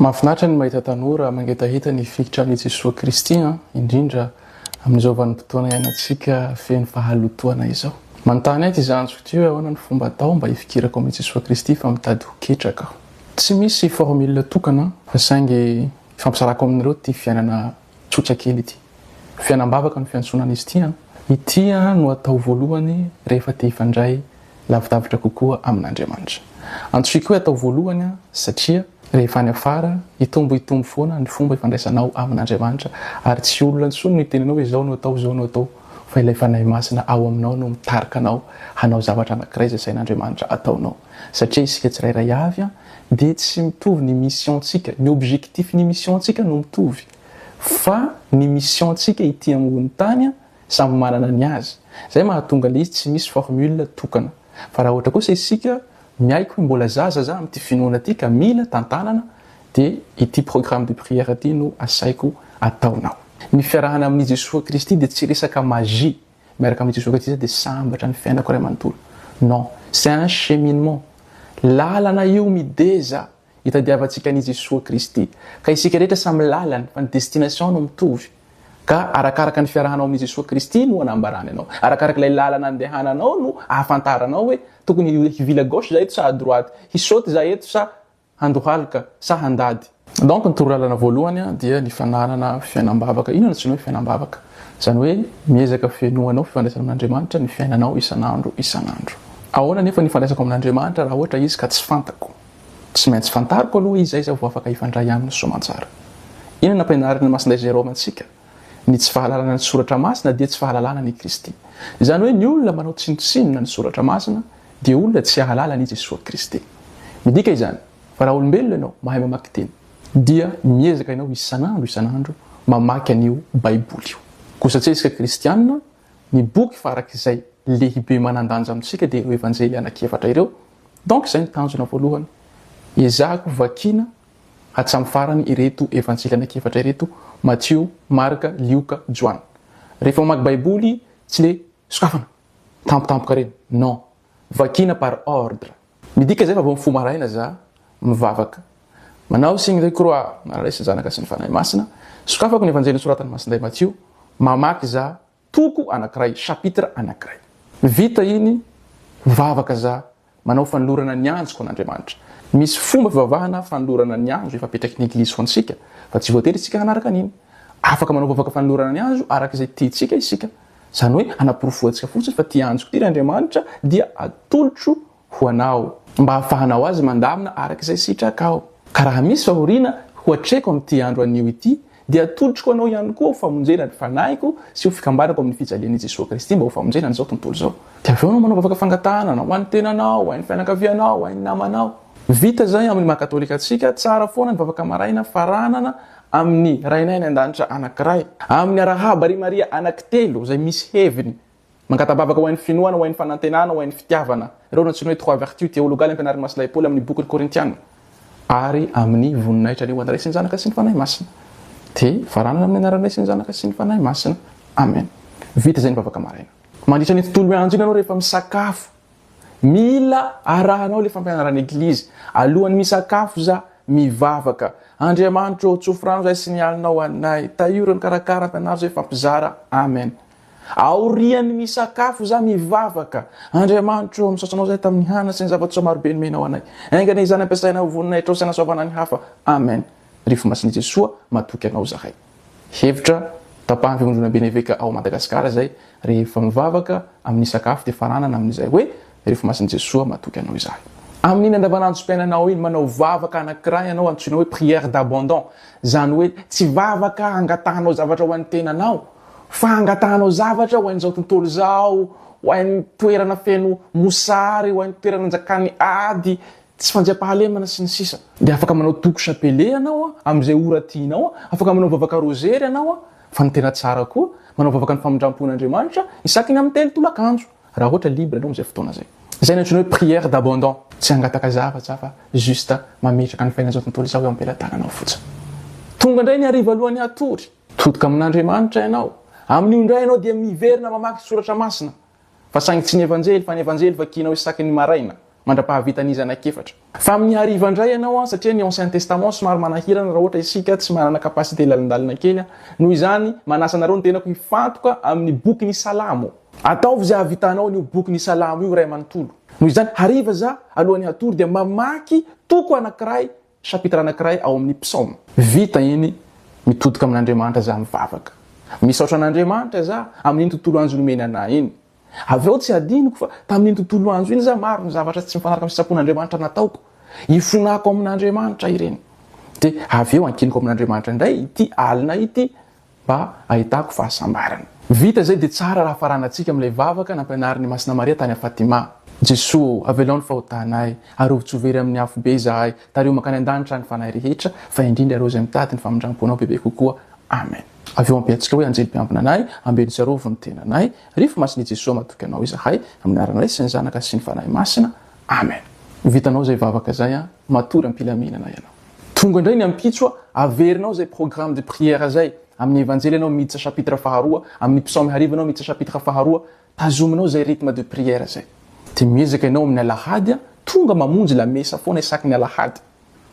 Mahafinaritra ny mahita tanora mangetaheta ny hifikitra amin'i Jesoa Kristy an, indrindra amin'izao vanim-potoana iainantsika feno fahalotoana izao. Manontany ahy ity zandriko ity hoe ahoana no fomba atao mba hifikirako amin'i Jesoa Kristy fa mitady ho ketraka aho. Tsy misy formule tokana fa saingy ifampizarako aminareo ity fiainana Tsotra kely ity. Fiainam-bavaka no fiantsonan'izy ity an! Ity no atao voalohany rehefa te hifandray lavidavitra kokoa amin'Andriamanitra. Antsoy koa hoe atao voalohany satria rehefa any afara, hitombo hitombo foana ny fomba ifandraisanao amin'Andriamanitra ary tsy olona intsony no hitenenao hoe izao no atao, izao no atao fa ilay Fanahy Masina ao aminao no mitarika anao hanao zavatra anankiray izay sahin'Andriamanitra hataonao satria isika tsirairay avy dia tsy mitovy ny mission-tsika. Ny objectif ny mission-tsika no mitovy fa ny mission-tsika ity ambonin'ny tany samy manana ny azy. Izay mahatonga ilay izy tsy misy formule tokana. Fa raha ohatra kosa isika miaiky hoe mbola zaza za amin'ity finoana ity ka mila tantanana dia ity programme de prière ity no asaiko ataonao. Ny fiarahana amin'i Jesoa Kristy dia tsy resaka magie. miaraka amin'i Jesoa Kristy dia sambatra ny fiainako iray manontolo. Non, c'est un cheminement. Lalana io mideza hitadiavantsika an'i Jesoa Kristy. Ka isika rehetra samy lalany fa ny destination no mitovy. Ka arakaraka ny fiarahanao amin'i Jesoa Kristy no anambarany anao. Arakaraka ilay lalana andehananao no ahafantaranao hoe tokony hivily à gauche za eto sa à droite, hisaute za eto sa handohalika sa handady. Donc ny torolalana voalohany dia ny fananana fiainam-bavaka. Inona no antsoina hoe fiainam-bavaka? Izany hoe miezaka fenoanao fifandraisana amin'Andriamanitra ny fiainanao isan'andro isan'andro. Ahoana anefa ny ifandraisako amin'Andriamanitra raha ohatra izy ka tsy fantako? Tsy maintsy fantariko aloha izy izay izaho vao afaka hifandray aminy soamantsara. Inona no nampianarin'ny Masindahy Jérôme antsika? Ny tsy fahalalana ny Soratra Masina dia tsy fahalalana an' i Kristy. Izany hoe ny olona manao tsinontsinona ny Soratra Masina dia olona tsy hahalala an' i Jesoa Kristy. Midika izany fa raha olombelona ianao mahay mamaky teny dia miezaka ianao isan'andro isan'andro mamaky an' io Baiboly io. Kosa tsy isika kristiana, ny boky farak' izay lehibe manan-danja amintsika dia ireo Evanjely anakiefatra ireo. Donc izay ny tanjona voalohany ezahako vakiana Hatramin'ny farany ireto Evanjely anankiefatra ireto, Matio, Marka, Lioka, Joana. Rehefa mamaky Baiboly, tsy le sokafana tampotampoka ireny, non, vakiana par ordre. Midika izay fa vao mifoha maraina za, mivavaka, manao signe de croix, manana Ray sy Zanaka sy ny Fanahy Masina, sokafako ny Evanjely nosoratan'i Masindahy Matio, mamaky za, Toko anankiray, chapitre anankiray. Vita iny, mivavaka za, manao fanolorana ny anjoko an'Andriamanitra. Misy fomba fivavahana fanolorana ny anjo efa apetraky ny Eglizy ho antsika, fa tsy voatery isika hanaraka an'iny. Afaka manao vavaka fanolorana ny anjo araka izay tiantsika isika. Izany hoe, hanaporofoantsika fotsiny fa tia anjoko ity ry Andriamanitra, dia atolotro ho anao, mba hahafahanao azy mandamina araka izay sitrakao. Ka raha misy fahoriana ho atreko amin'ity andro anio ity, dia atolotro ho anao ihany koa ho famonjena ny fanahiko sy ho fikambanako amin'ny fijalian'i Jesoa Kristy mba ho famonjena an'izao tontolo izao. Dia avy eo anao manao vavaka fangatahana, ho an'ny tenanao, ho an'ny fianakavianao, ho an'ny namanao. Vita izay amin'ny maha katolika antsika, tsara foana ny vavaka maraina faranana amin'ny Rainay any An-danitra anankiray, amin'ny arahaba ry Maria anankitelo izay misy heviny Mangatabavaka ho ain'ny finoana, ho ain'ny fanantenana, ho ain'ny fitiavana. Ireo no antsoina hoe trois vertus théologales ampianarin'ny Masilahy Paoly amin'ny bokiny Korintiana. Ary amin'ny voninahitra ny ho an'ny Ray sy ny Zanaka sy ny Fanahy Masina. Dia varanana amin'ny anaran'ny Ray sy ny Zanaka sy ny Fanahy Masina. Amen. Vita izay ny vavaka maraina. Mandritra ny tontolo miandry iny ianao rehefa misakafo, mila arahanao ilay fampianaran'ny Eglizy. Alohan'ny misakafo za, mivavaka. Andriamanitro ô, tsofy rano izay sy ny alinao ho anay. Tahio ireo nikarakara, ampianaro izay, fa mpizara. Amen. Aorian'ny misakafo izaho mivavaka, Andriamanitro ô, misaotra Anao izahay tamin'ny hanina sy ny zava-tsoa maro be nomenao anay. Aingana izany ampiasaina ho voninahitrao sy hanasoavana ny hafa. Amen. Ry Fo Masin'i Jesoa, matoky Anao izahay. Hevitra, Tapahan'ny Fivondronamben'ny Eveka ao Madagasikara izay, rehefa mivavaka, amin'ny sakafo dia fananana amin'izay hoe, Rehefa masin'i Jesoa matoky anao izahay. Amin'iny andavanandrom-piainanao iny, manao vavaka anankiray ianao antsoina hoe prière d'abandon, izany hoe tsy vavaka hangatahanao zavatra ho an'ny tenanao, fa hangatahanao zavatra ho an'izao tontolo izao, ho an'ny toerana feno mosary, ho an'ny toerana anjakan'ny ady, tsy fandriampahalemana, sy ny sisa. Dia afaka manao toko chapelet ianao amin'izay ora tianao, afaka manao vavaka rozery ianao, fa ny tena tsara koa, manao vavaka ny famindram-pon'Andriamanitra, isaky ny amin'ny telo tolakandro. Raha ohatra libre anao amin'izay fotoana izay. Izay no antsoina hoe prière d'abandon. Tsy hangataka zavatra aho fa juste mametraka ny faingan'izao tontolo izao eo am-pelatananao fotsiny. Tonga indray ny hariva alohan'ny hatory. Todika amin'Andriamanitra ianao. Amin'io indray ianao dia miverina mamaky ny soratra masina. Fa saingy tsy ny Evanjely fa ny Evanjely vakianao isaky ny maraina. mandra-pahavitan'ny zanak'efatra. Fa amin'ny hariva indray ianao an, satria ny ancien testament somary manahirana raha ohatra isika tsy manana capacité lalindalina kely an, noho izany manasa anareo ny tenako hifantoka amin'ny boky ny salamo. Ataovy izay hahavitanao an'io boky ny salamo io iray manontolo. Noho izany hariva za alohan'ny hatory dia mamaky toko anankiray Chapitre anankiray ao amin'ny psaume. Vita iny, mitodika amin'Andriamanitra za mivavaka. Misaotra an'Andriamanitra za amin'iny tontolo andro nomeny anah iny. Avy eo tsy hadinoko fa tamin'iny tontolo andro iny za maro ny zavatra tsy mifanaraka amin'ny sitrapon'Andriamanitra nataoko. Ifonako amin'Andriamanitra ireny. Dia avy eo ankiniko amin'Andriamanitra indray ity alina ity mba ahitako fahasambarana. Vita izay dia tsara raha faranantsika amin'ilay vavaka nampianarin'i Masina Maria tany Fatima, Jeso ô, avelao ny fahotanay, arovy tsy ho very amin'ny afobe izahay, tariho mankany an-danitra ny fanahy rehetra, fa indrindra ireo izay mitady ny famindram-ponao bebe kokoa. Amen. Avy eo ampiantsika hoe, Anjely mpiambina anay, ambeno sy arovy ny tenanay, Rify Masin'i Jeso, matoky Anao izahay, amin'ny anaran'ny Ray sy ny Zanaka sy ny Fanahy Masina. Amen. Ho vitanao izay vavaka izay an. Matory am-pilaminana ianao. Tonga indray ny ampitso a! Averinao izay programme de prière izay. Amin'ny Evanjely ianao miditra chapitre faharoa, amin'ny Psaomy hariva ianao miditra chapitre faharoa. Tazominao izay rythme de prière izay. Dia miezaka ianao amin'ny alahady a! Tonga mamonjy lamesa foana isaky ny alahady.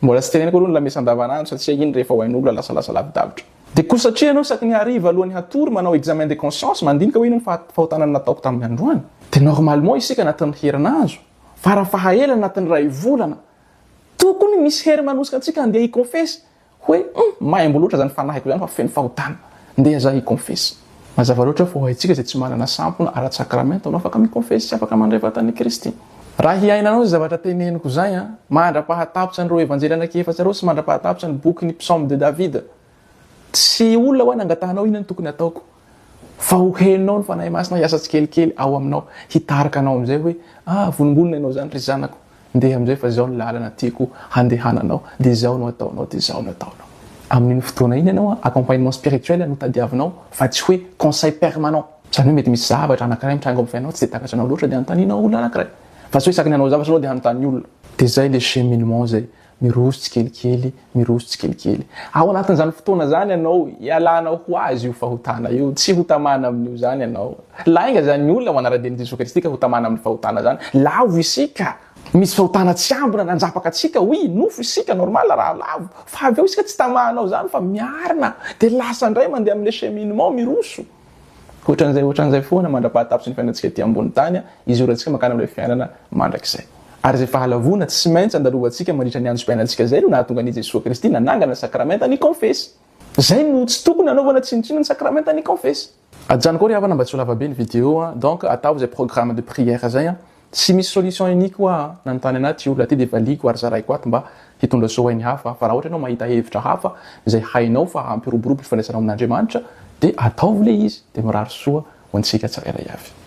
Mbola tsy teneniko aloha ny lamesa andavanandro satria iny rehefa ho ain'olona lasalasa lavidavitra. Dia koa satria ianao isaky ny hariva alohan'ny hatory manao examen de conscience, mandinika hoe inona ny fahatanana nataoko tamin'ny androany. Dia normalement isika anatin'ny herinandro. Farafahaelany anatin'ny iray volana, tokony misy hery manosika antsika handeha hikonfesy hoe hum, maimbo loatra izany fanahiko izany fa feno fahotana. Ndeha izaho hikonfesy. Mazava loatra fa ho antsika izay tsy manana sampona ara-tsakramenta no afaka mikonfesy sy afaka mandray vatan'i Kristy. Raha hiainanao izay zavatra teneniko izay, mandra-pahatapitsa an'ireo Evanjely anaky efatra ireo sy mandra-pahatapitsa ny bokin'ny Psaumes de David, Tsy olona hoa nangatahanao inona no tokony hataoko fa ho henonao ny Fanahy Masina hiasa tsikelikely ao aminao hitarika anao amin'izay hoe ah vonongonona ianao izany ry zanako ndeha amin'izay fa izao ny lalana tiako handehananao dia izao no ataonao dia izao no ataonao. Amin'iny fotoana iny ianao accompagnement spirituel no tadiavinao fa tsy hoe conseil permanent. Izany hoe mety misy zavatra anakiray mitranga ao amin'ny fiainanao tsy dia takatranao loatra dia anontanianao olona anakiray fa tsy hoe isaky ny hanao zavatra ianao dia hanontany olona. Dia izay ilay cheminement izay Miroso tsikelikely, miroso tsikelikely. Ao anatin'izany fotoana izany ianao, ialana ho azy io fahotana io. Tsy ho tamana amin'io izany ianao. Lainga izany olona ho anara-dian'i Jesoa Kristy ka ho tamana amin'ny fahotana izany. Lavo isika. Misy fahotana tsy ambina nanjapaka antsika, oui, nofo isika, normal raha lavo. Fa avy eo isika tsy tamahanao izany fa miarina. Dia lasa indray mandeha amin'ilay cheminement miroso. Hoatran'izay hoatran'izay foana mandra-pahatapitry ny fiainantsika ety ambony tany, izorantsika mankany amin'ilay fiainana mandrakizay. Ary izay fahalavoana tsy maintsy andalovantsika mandritra ny androm-piainantsika izay no nahatonga an'i Jesoa Kristy nanangana ny sakramentan'ny Kaonfesy. Izay no tsy tokony hanaovana tsinontsinona ny sakramentan'ny Kaonfesy. Ajanoko ao ry havana mba tsy ho lavabe ny video an! Donc ataovy izay programme de prière izay an! Tsy misy solution unique hoa an, nanontany anah ty olona ty de valiako ary zaraiko ato mba hitondra soa ho ainy hafa fa raha ohatra ianao mahita hevitra hafa izay hainao fa hampiroborobo ny fifandraisanao amin'Andriamanitra de ataovy le izy de mirary soa ho antsika tsirairay avy.